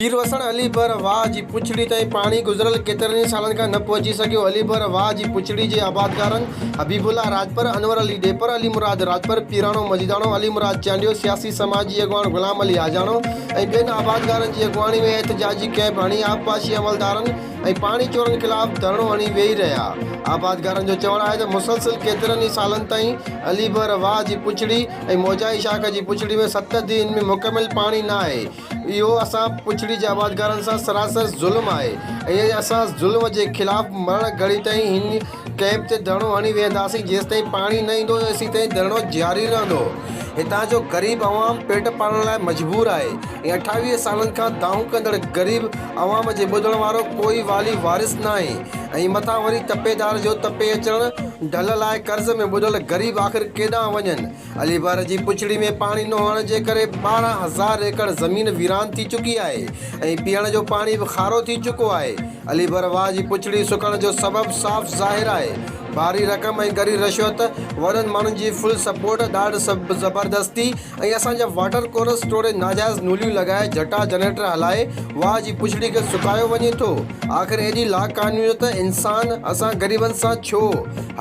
پير وسڻ علي بر واهه جي پڇڙي تائين پاڻي گذريل ڪيترن ئي سالن کان نه پهچي سگهيو. علي بر واهه جي پڇڙي جي آبادگارن حبيب الله راڄپر، انور علي ڏيپر، علي مراد راڄپر، پيراڻو مجيداڻو، علي مراد چانڊيو، سياسي سماجي اڳواڻ غلام علي آجاڻو ۽ ٻين آبادگارن جي اڳواڻي ۾ احتجاجي ڪئمپ هڻي آبپاشي عملدارن ۽ پاڻي چورن خلاف ڌرڻو هڻي ويهي رهيا. آبادگارن جو چوڻ آهي ته مسلسل ڪيترن ئي سالن تائين علي بحر واهه جي پڇڙي ۽ موجائي شاخ جي پڇڙي ۾ ست ديهين ۾ مڪمل پاڻي نه آهي. اهو اسان پڇڙي جي آبادگارن سان سراسر ظلم آهي ۽ اسان ظلم جي خلاف مرڻ گهڙي تائين هن ڪئمپ تي ڌرڻو هڻي ويهنداسين جيستائين پاڻي نه ايندو تيستائين ڌرڻو جاري رهندو هتان جو غريب عوام پيٽ پالڻ لاء مجبور آهي ۽ اٺاويهه سالن کان دانهون ڪندڙ غريب عوام جي ٻڌڻ وارو ڪوئي والي وارث ناهي ۽ مٿان وري تپيدار جو تپي اچڻ ڍل لاء قرض ۾ ٻڏل غريب آخر ڪيڏانهن وڃن اليبار جي پڇڙي ۾ پاڻي نه هئڻ جي ڪري ٻارهن هزار ايڪڙ زمين ويران ٿي چڪي آهي ۽ پيئڻ جو پاڻي به کارو ٿي چڪو آهي. اليبر واهه جي پڇڙي سڪڻ جو سبب صاف ظاهر آهي. ڀاري رقم ۽ ڳري رشوت، وڏن ماڻهن جي فل سپورٽ، ڏاڍ زبردستي ۽ اسان جا واٽر ڪورس ٽوڙي ناجائز نوليون لڳائي جٽا جنريٽر هلائي واهه جي پڇڙي کي سڪايو وڃي ٿو. آخر ايڏي لاقانونيت انسان اسان غريبن سان ڇو؟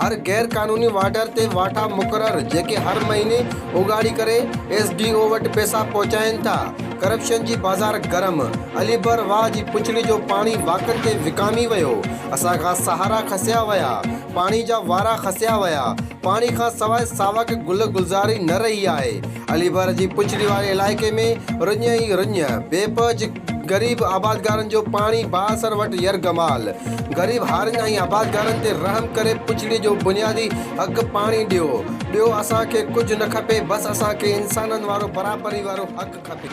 هر غير قانوني وارڊر تي واٺا مقرر جيڪي هر مهيني اوڳاڙي ڪري ايس ڊي او وٽ پئسا پهچائين ٿا. ڪرپشن جي بازار گرم، علي بر واهه جي پڇڙي جو پاڻي واڪن تي وڪامي ويو، اسان کان سهارا کسيا ويا، پاڻي جا وارا کسيا ويا، پاڻي کان سواء ساوڪ گل گلزاري نه رهي آهي، علي بر جي پڇڙي واري علائقي ۾ رڃ ئي رڃ، بي پهه جي. غريب آبادگارن جو پاڻي بااثر وٽ يرغمال، غريب هارين ۽ آبادگارن تي رحم ڪري پڇڙي جو بنيادي حق پاڻي ڏيو، ٻيو اسان کي ڪجهه نه کپي بس اسان کي انسانن وارو برابري وارو حق کپي.